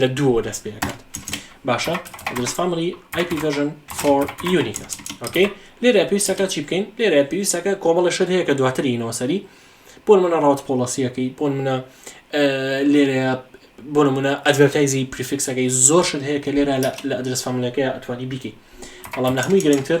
لە دووەوە دەست پێ دەکات باشە درس فامری IP version for unique است اوکی لێرە پێویستەکە چی بکەین لێرە پێویستەکە کۆمەڵە شت هەیە کە دواتری نەوەسەری بۆن منە ڕاوت پۆڵەسیەکەی بۆن منە لێرە بۆ نمونە ئەدڤەرتایزی پریفکسەکەی زۆر شت هەیە کە لێرە لە ئەدرس فاملەکەی ئەتوانی بیکەی بەڵام لە هەمووی گرنگتر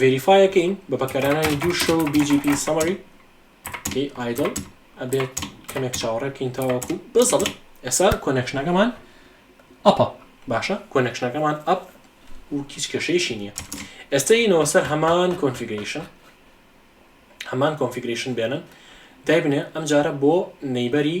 ڤێریفای ئەکەین بە بەکارانانی دوو شەو BGP سەمەری ئەی ئایدڵ ئەبێت کەمێک چاوەڕێ بکەین تاوەکو بەزەڵ ئێستا کۆنەکشنەکەمان ئەپە باشە کۆنەکشنەکەمان ئەپ و هیچ کەشەیشی نییە ئێستا ینەوە سەر هەمان کۆنفیگریشن هەمان کۆنفیگریشن بێنن دایبنێ ئەم جارە بۆ نەیبەری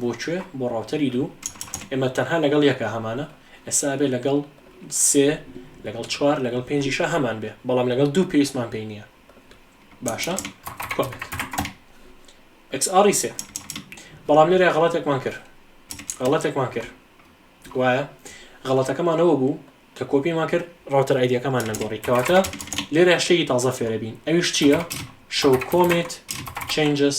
بۆ کوێ بۆ ڕاوتەری دوو ئێمە تەنها لەگەڵ یەکە هەمانە ئێستا ئەبێ لەگەڵ سێ لەگەڵ چوار لەگەڵ پێنجیشە هەمان بێ بەڵام لەگەڵ دوو پێویستمان پێی نییە باشە کۆپێک XR سێ بەڵام لێرە غڵاتێکمان کرد غڵەتێکمان کرد وایە غڵەتەکەمانەوە بوو کە کۆپیمان کرد ڕاوتەر ئایدیەکەمان نەگۆڕی کەواتە لێرە شەی تازە فێرەبین ئەویش چییە شەو کۆمێت چنجس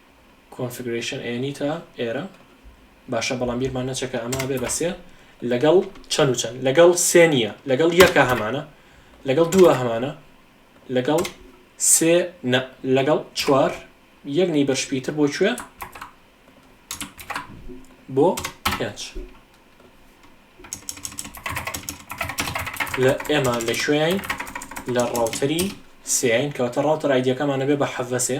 کۆنفگرەیشن ئێنی تا ئێرە باشە بەڵام بیرمان نەچەکە ئەمە بێ بە سێ لەگەڵ چەند و چەند لەگەڵ سێ نییە لەگەڵ یەکە هەمانە لەگەڵ دووە هەمانە لەگەڵ سێ نە لەگەڵ چوار یەک نەی بەرشپیتر بۆ کوێ بۆ پێنج لە ئێمە لە شوێین لە ڕاوتەری سیین کەواتە ڕاوتەر ئایدەکەمانە بێ بە حەڤەسێ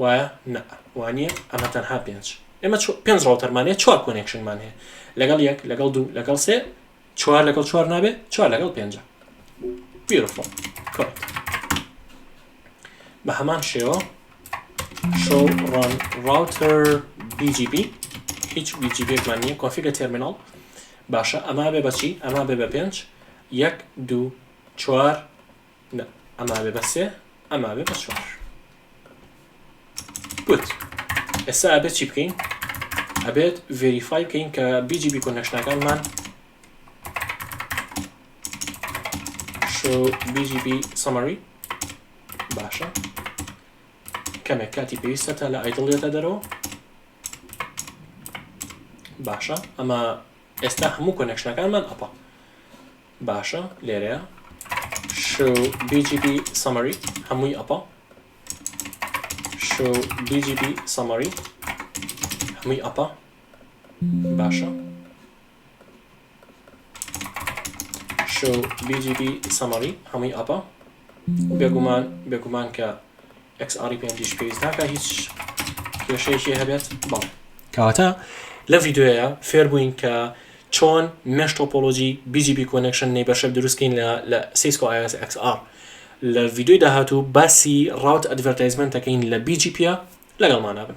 وایە؟ نا وانییە ئەمە تەنها پێنج ئێمە پێنج ڕاوتەرمانەیە چوار کۆنێکشنمان هەیە لەگەڵ یەک لەگەڵ دوو لەگەڵ سێ چوار لەگەڵ چوار نابێت چوار لەگەڵ پێنج بیرفۆ بە هەمان شێوە شۆ ڕان ڕاوتەر BGB هیچ BGBێکمان نییە کۆفیگە تەرمیناڵ باشە ئەما بێ بەچی ئەما بێ بە پێنج یەک دوو چوار نا ئەمابێ بە سێ ئەمابێ بە چوار گوت ئێستا ئەبێت چی بکەین ئەبێت ڤریفای بکەین کە بیجی بی کۆنەشنەکانمان بیجی بی سەمەری باشە کەمێک کاتی پێویستە تا لە ئایدڵێتە دەرەوە باشە ئەمە ئێستا هەموو کۆنەکشنەکانمان ئەپە باشە لێرەیە شو BGP summary هەمووی ئەپە شو BGP summary هەمووی ئەپە باشە شو BGP summary هەمووی ئەپە بێگومان بێگومان کە ئێکس ئاڕی پێنج ئیش پێویست ناکا هیچ کێشەیەکی هەبێت بەڵێ کەواتە لە ڤیددیوەیە فێر بووین کە چۆن مێش تۆپۆلۆژی BGP کۆنکشن نەیبەرشەر دروستکەین لە لە سیسکۆ iOS XR لە ڤیددیوی داهاتوو باسی ڕاوت ئەدڤەرتایزمنتەکەین لە BGP لەگەڵمانە بن